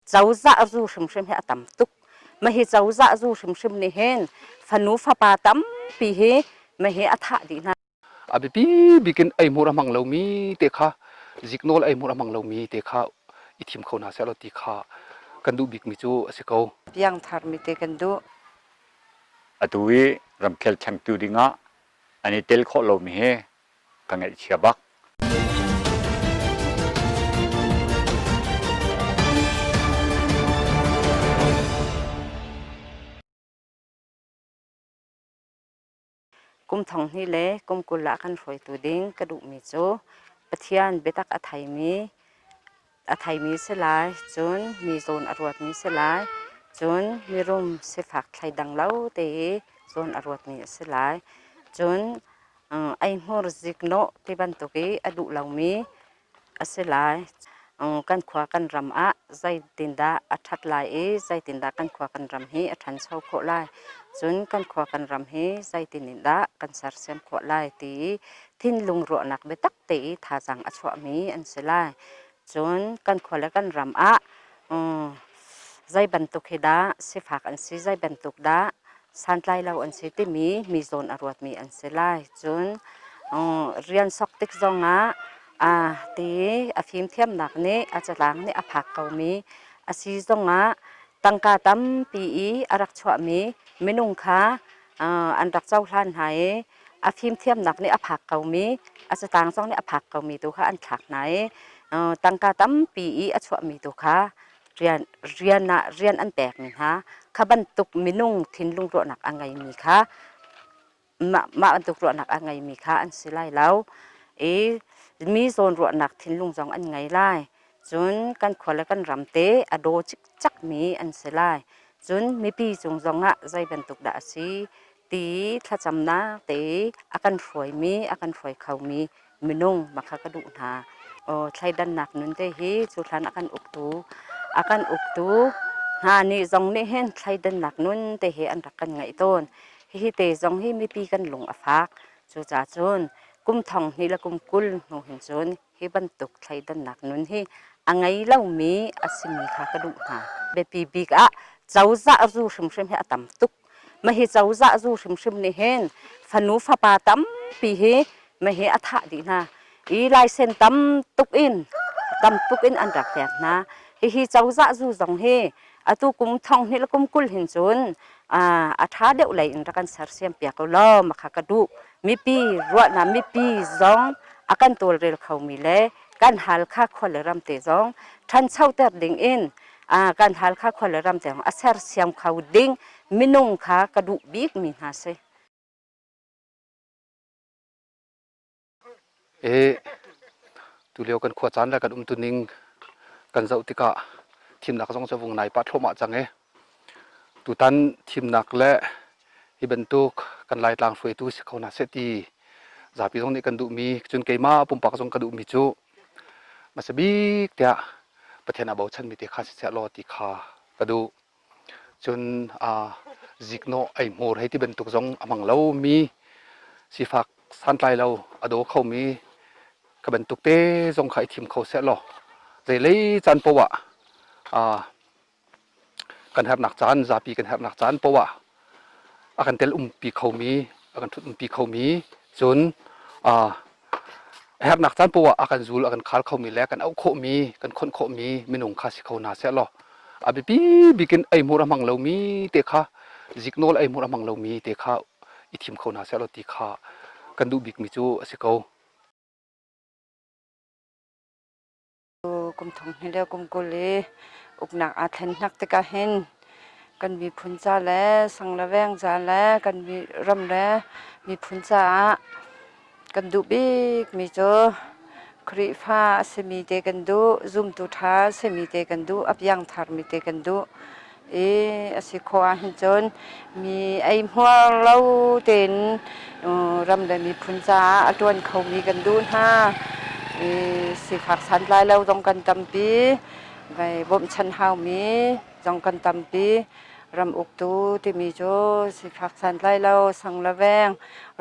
Cozah zu hrimhrim hi a tam tuk. Mahi cozah zu hrimhrim nih hin fanu fapa tampi hi mahi a thah dih hna. A biapi bik in ei hmur a hmang lomi te kha zik nawl ei hmur a hmang lomi te kha i thim kho hna seh law ti kha kan duh bikmi cu a si ko. Piangtharmi te kan duh. Atu i ramkhel changtu ding ah an i tel khawh lomi hi ka ngaihchia bak. Kum thong hni le kum kul ah kan hruaitu ding ka duhmi cu Pathian biatak a theimi a theimi si lai, cun mi zawn a ruatmi si lai, cun mirum sifak thleidang lo te i zawn a ruatmi a si lai. Cun eihmur ziknawh ti bantuk i a duh lomi a si lai. Kan khua kan ram ah zeitindah a ṭhat lai i zeitindah kan khua kan ram hi a ṭhancho khawh lai, cun kan khua kan ram hi zeitin in dah kan sersiam khawh lai ti i thinlung ruahnak biatak te i thazaang a chuahmi an si lai. Cun kan khua le kan ram ah zei bantuk hi dah sifak an si, zei bantuk dah santlai lo an si timi mi zawn a ruatmi an si lai. Cun rian sok tik zongah ti a fimthiamnak nih a catlang nih a phak komi a si zongah tangka tampi i a rak chuahmi minung kha an rak cohlan hna i a fimthiamnak nih a phak komi a satang zong nih a phak komi tu kha an thlak hna i tangka tampi i a chuahmi tu kha rian rian ah rian an pekmi hna kha bantuk minung thinlung ruahnak a ngeimi kha mah, mah bantuk ruahnak a ngeimi kha an si lai lo i mi zawn ruahnak thinlung zong an ngei lai cun kan khua le kan ram te a daw cikcakmi an si lai cun mipi cung zong ah zei bantuk dah a si ti thlacamnak te a kan hruaimi, a kan hruai khomi minung makha ka duh hna. Thleidannak nun te hi cu hlan a kan uktu a kan uktu hna nih zong nih hin thleidannak nun te hi an rak kan ngaih tawn. Hihi te zong hi mipi kan lung a fak. Cucacun kum thong hnih le kum kul hnu hin cun Hi bantuk thleidannak nun hi a ngei lomi a simi kha ka duh hna. Biapi bik ah cozah zu hrimhrim hi a tam tuk. Mah hi cozah zu hrimhrim nih hin fanu fapa tampi hi mah hi a thah dih hna i laisen tam tuk in tam tuk in an rak hleek hna. Hihi cozah zu zong hi atu kum thong hnih le kum kul hin cun a ṭha deuh lei in rak an sersiam piak ko law makha ka duh. Mipi, ruahnak mipi zong a kan tawlrel khomi le kan Halkha khua le ram te zong ṭhancho ter ding in kan Halkha khua le ram te zong a sersiam kho ding minung kha ka duh bikmi hna si. i tulio kan khua caan le kan umtuning kan zoh tikah thimnak zong cu a vung nai pah thluahmah cang i tutan thimnak le hi bantuk kan Laitlang hruaitu si ko hna seh ti zapi zong nih kan duhmi cun keimah pumpak zong ka duhmi cu hmasa bik tiah Pathian a bochanmi te kha siseh law ti kha ka duh. cun ziknawh eihmur hei ti bantuk zong a hmang lomi sifak santlai lo a daw khomi ka bantuk te zong kha i thim kho seh law zeilei caan poah kan herhnak caan zapi kan herhnak caan poah a kan tel umpi khomi a kan thut umpi khomi cun herhnak caan poah a kan zul a kan khal khomi le kan auh khawhmi kan khonh khawhmi minung kha si kho hna seh law a biapi bik in ei hmur a hmang lomi te kha zik nawl ei hmur a hmang lomi te kha i thim kho hna seh law ti kha kan duh bikmi cu a si ko. kum thong hnih le kum kul i uknak aa thlennak tikah hin kan miphun ca le sang le veng ca le kan ram le miphun caah kan duh bikmi cu Khrihfa a simi te kan duh, zumtu ṭha simi te kan duh, a piangtharmi te kan duh. i a si khawh ahhin cun mi eihmuar lo tein ram le miphun caah a ṭuan khomi kan duh hna. I sifak santlai lo zong kan tampi. Vai bawmhchanh haumi zong kan tampi. Ram uktu timi cu sifak santlai lo, sang le veng,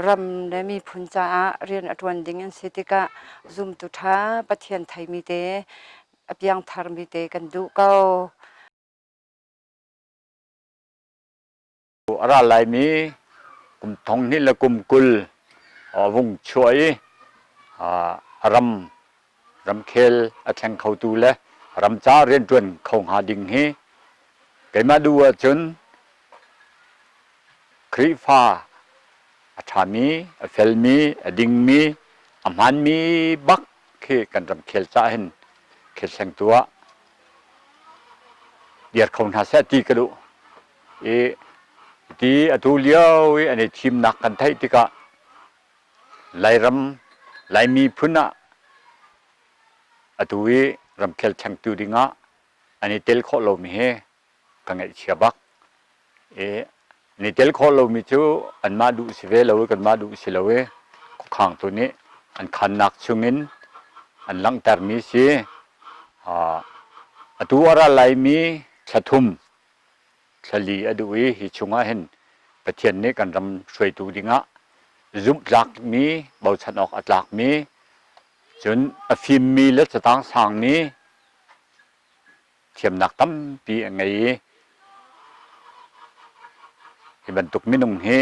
ram le miphun caah rian a ṭuan ding an si tikah zumtu ṭha Pathian theimi te, a piangtharmi te kan duh ko. A ra laimi kum thonghnih le kum kul vung chuah i a ramkhel a thleng khotu le ramca rianṭuan kho hnga ding hi keimah duh ahcun Khrihfa a ṭhami, a felmi, a dingmi, a hmaanmi bak khi kan ramkhel caah hin khilhlengtu ah biar kho hna seh ti ka duh i ti atu lio i an i thimnak kan theih tikah Lairam Lai miphun ah atu i ramkhel changtu ding ah an i tel khawh lomi hi ka ngaihchia bak i ni tel khawh lomi cu anmah duh si ve lo i kanmah duh si lo i khukhang tu nih an khannak chungin an langhtermi si atu a ra laimi thla thum thlali a duh i hi chungah hin Pathian nih kan ram hruaitu dingah zumhtlakmi bochan awk a tlakmi cun a fimmi le catang sangmi thiamnak tampi a ngei i hi bantuk minung hi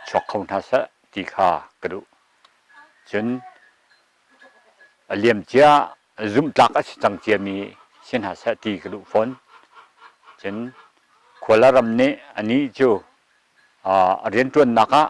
chuak kho hna seh ti kha ka duh cun a liam cia zumhtlak a si cang ciami si hna seh ti ka duh fawn cun Kuala ram nih a ni cu a rianṭuannak ah